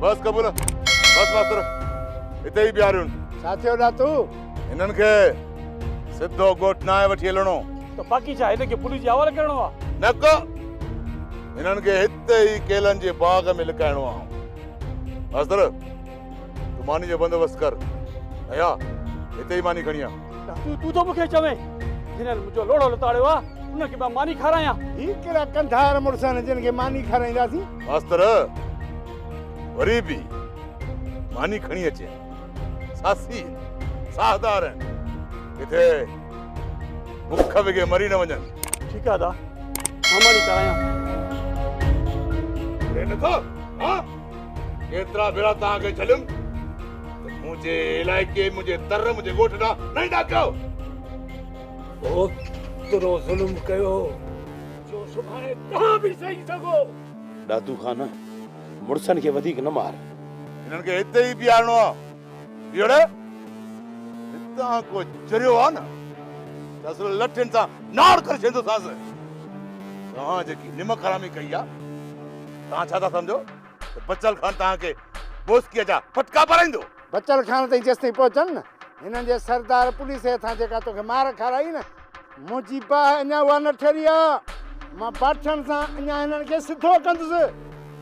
بس قبول بس ماستر اتي ئي بيهاريون ڇا ٿيو ناتو هنن کي سڌو ڳوٺ ناهي وٺي هلڻو ته باقي ڇا هن کي پوليس جي حوالي ڪرڻو آ نه ڪو هنن کي هتي ئي ڪيلن جي باغ ۾ لڪائڻو آ ماستر تون ماني جو بندوبست ڪر ايا هتي ئي ماني کڻي آ تون تون ٿو مونکي چوين جن منهنجو لوڙو لتاڙيو آ ان کي مان ماني کارايان هي ڪهڙا ڪنڌار مڙس آهن جن کي ماني کارائينداسين ماستر وري به ماني کڻي اچي ساسي ساهدار آهن ڪٿي بک وگي مري نه وڃن ٺيڪ آ دا مان ماني کارايان ايترا ڀيرا توهان کي جهليم ته منهنجي علائقي منهنجي تر منهنجي ڳوٺ ڏانهن نه ايندا ڪيو اوترو ظلم ڪيو جو سڀاڻي توهان به سهي سگهو دادو خان مڙسن کي وڌيڪ نه مار هنن کي هتي ئي بيهارڻو آهي ڀيڙي، هتان ڪو چريو آ نه ته اصل لٺين سان ناڙ ڪري ڇيندوسانس. توهان جيڪي نمڪ حرامي ڪئي آ، توهان ڇا ٿا سمجهو ته بچل خان توهان کي بوسڪيء جا ڦٽڪا پارائيندو؟ بچل خان تائين جيستائين پهچن نه، هنن جي سردار پوليس جي هٿان جيڪا توکي مار کارائي نه، منهنجي باهه اڃا اها نه ٺري آ. مان باٺن سان اڃا هنن کي سڌو ڪندس.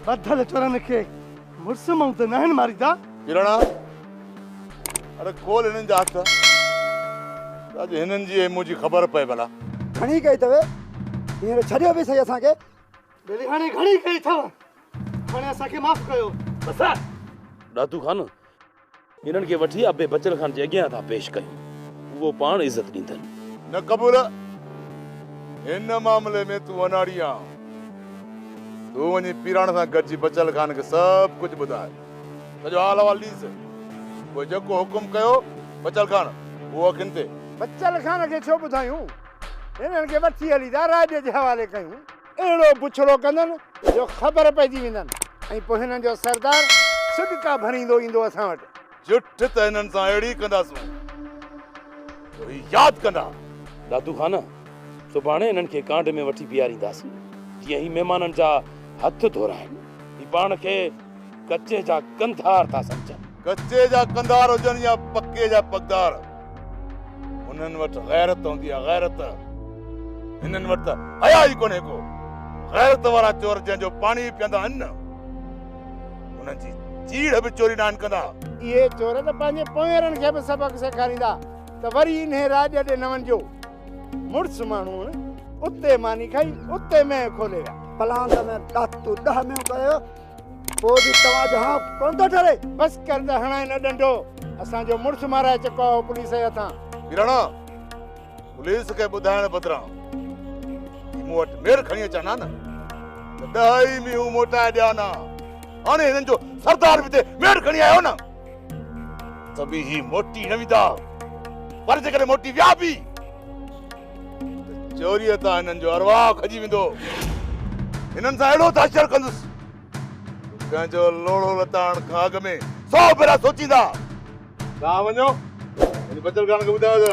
ٻڌل چورن کي مڙس مئون ته ناهن ماريندا. ڪرڻا، اڙي کول هنن جا هٿ، ته اڄ هنن جي ۽ منهنجي خبر پئي ڀلا. گهڻي ڪئي اٿو، هينئر ڇڏيو به سهي اسان کي. ٻيليهاڻي، گهڻي ڪئي اٿو، هاڻي اسان کي معاف ڪيو. بس. ڏاتو خان، انهن کي وٺي ابي بچن خان جي اڳيان ٿا پيش ڪيون، اهو پاڻ عزت ڏيندن. نه قبول، هن معاملي ۾ تون اناڙي آهين. تون وڃي پيراڻ سان گڏجي بچل خان کي سڀ ڪجهه ٻڌاء. سڄو حال احوال ڏيس. پوء جيڪو حڪم ڪيو بچل خان، اهو اکين تي. بچل خان کي ڇو ٻڌايون؟ انهن کي وٺي هلي ٿا راڄ جي حوالي ڪيون. اهڙو بڇڙو ڪندن جو خبر پئجي ويندن ۽ پوء هنن جو سردار سڏڪا ڀريندو ايندو اسان وٽ. جٺ ته هنن سان اهڙي ڪنداسون جو هي ياد ڪندا. دادو خان، سڀاڻي هنن کي ڪانڊ ۾ وٺي بيهارينداسين، جيئن هي مهمانن جا هٿ ڌورائين. هي پاڻ کي. ڪچي جا ڪنڌار ٿا سمجهن. ڪچي جا ڪنڌار هجن يا پڪي جا پڳدار، هنن وٽ غيرت هوندي آهي، غيرت! هنن وٽ ته حيا ئي ڪونهي ڪو. غيرت وارا چور جنهن جو پاڻي به پيئندا آهن نه، انهن جي چيڙهه به چوري ناهن ڪندا. اهي چور ته پنهنجي پونئيرن کي به سبق سيکاريندا ته وري انهي راڄ ڏي نه وڃجو. مڙس ماڻهو اتي ماني کائي اتي مين کولي ويا پلان ته مين ڏات تو ڏهه ميون ڪيو پوء به توهان جو هان ڪون ٿو ٺري بس ڪر ته هڻائي نه ڏنڊو اسان جو مڙس مارائي چڪو آهو پوليس جي هٿان ڪراڻا پوليس کي ٻڌائڻ بدران مون وٽ مير کڻي اچان نه ته ڏهه ئي ميون موٽائي ڏيان ها هاڻي هنن جو سردار به تي مير کڻي آيو نه ته به هي موٽي نه ويندا، پر جيڪڏهن موٽي ويا به ته چوريء تان هنن جو ارواح کڄي ويندو. هنن سان اهڙو دهشت ڪندس جو ڪنهن جو لوڙهو لتاڻ کان اڳ ۾ سؤ ڀيرا سوچيندا. توهان وڃو ۽ بچل ڪانهن کي ٻڌايو ته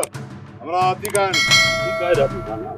همراهه عتيقا آهن. عتيقا ۽ عتيقا نه آهن.